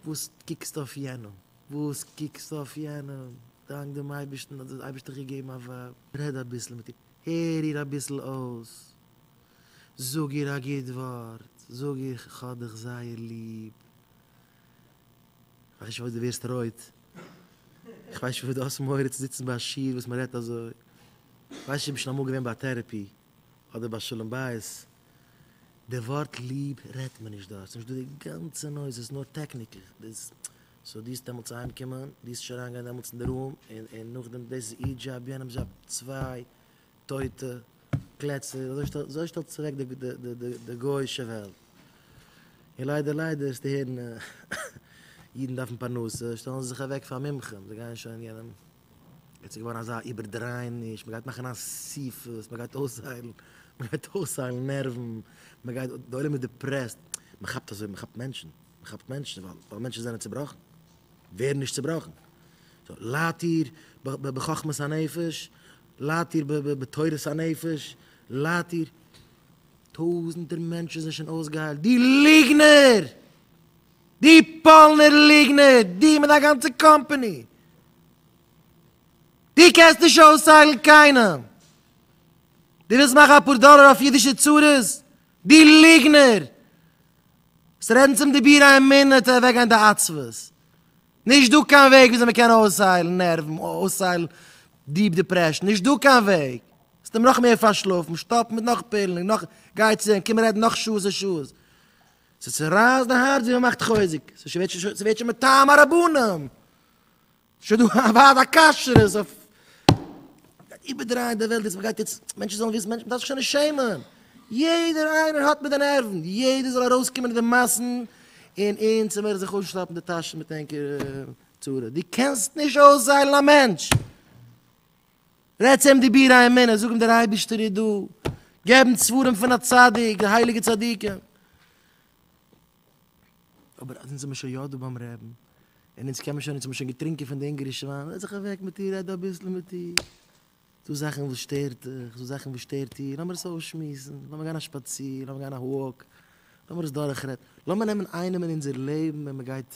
וואס קוקסטו אויף יענעם? וואס קוקסטו אויף יענעם? דאנק דעם אייבערשטן האט דער אייבערשטער געגעבן א ווייב, רעד אביסל מיט איר, הער איר אביסל אויס, זאג איר א גוט ווארט, זאג איר כ'האב דיך זייער ליב, כ'ווייס נישט פארוואס דו ווערסט רויט, כ'ווייס נישט פארוואס דו האסט מורא צו זיצן ביי א שיעור וואס מ'רעדט אזוי, כ'ווייס נישט צו דו ביסט שוין אמאל געווען ביי א טערעפי, האט דער בעל שלום בית, די ווארט ליב רעדט מען נישט דארט, ס'איז נישט דא די גאנצע נויז, ס'איז נאר טעקניקל, דאס סאו דו זאלסט דעמאלטס אהיים קומען, דו זאלסט נישט אריין גיין דעמאלטס אין די רום, און און נאכדעם דאס איז איר דזשאב יענעמס דזשאב, צוויי טויטע קלעצער, אזוי שטעלט זיך אוועק די די די די גוי'אישע וועלט, און ליידער ליידער וועסטו הערן אידן דארפן פרנסה, שטעלן זיי זיך אוועק פאר מומחים, זיי גייען שוין יענעם. יעצט איז געווארן אזא איבערדרייעניש, מ'גייט מאכן אסיפות, מ'גייט אויסהיילן, מ'גייט אויסהיילן נערוון, מ'גייט, די עולם איז דיפרעסט, מ'כאפט אזוי, מ'כאפט מענטשן, מ'כאפט מענטשן, ווייל מענטשן זענען צובראכן, ווער נישט צובראכן? סאו ליידט איר בחכמת הנפש? ליידט איר בתורת הנפש? ליידט איר? טויזנטער מענטשן זענען שוין אויסגעהיילט, די ליגנער! די פאלנער ליגנער, דו מיט דיין גאנצע קאמפאני, דו קענסט נישט אויסהיילן קיינעם, דו ווילסט מאכן אפאר דאלער אויף אידישע צרות, דו ליגנער, וועסט רעדן צום דבירה אין מינוט און אוועקגיין די עצבות, נישט דא קיין וועג וויאזוי מען קען אויסהיילן נערוון, אויסהיילן דיעפ דעפרעשן, נישט דא קיין וועג, וועסט אים נאך מער פארשלאפן, שטאפן מיט נאך פילן און נאך, גיי צו אים, קום רעדן נאך שעות און שעות. ס'צערייסט די הארץ ווי מ'מאכט חוזק, ס'ווערט שוין מטעם הרבנים, ס'שוין דא א ועד הכשרות אויף, מ'גייט איבערדרייען די וועלט יעצט, מ'גייט יעצט, מענטשן זאלן וויסן, מ'דארף זיך שוין נישט שעמען, יעדער איינער האט מיט די נערוון, יעדער זאל ארויסקומען אין די מאסן און אונז העמער זיך אויסשלאפן די טאשן מיט ענקערע צרות, דו קענסט נישט אויסזיילן א מענטש. רעד צו אים דברי אמונה, זאג אים דער אייבערשטער איז דא, געב אונז ספרים פון א צדיק, די הייליגע צדיקים. אבער אז אונז זעמער שוין יא דא ביים רעבן, און אונז קען מען שוין, אונז האבן שוין געטרינקען פון די אונגערישע וויין, זעץ זיך אוועק מיט איר, רעד אביסל מיט איר, דא זאכן וואס שטערט דיך, דא זאכן וואס שטערט איר, לאמיר עס אויסשמועסן, לאמיר גיין א שפאציר, לאמיר גיין א וואק, לאמיר עס דורכרעדן, לאמיר נעמען איינעם אין אונזער לעבן ווען מען גייט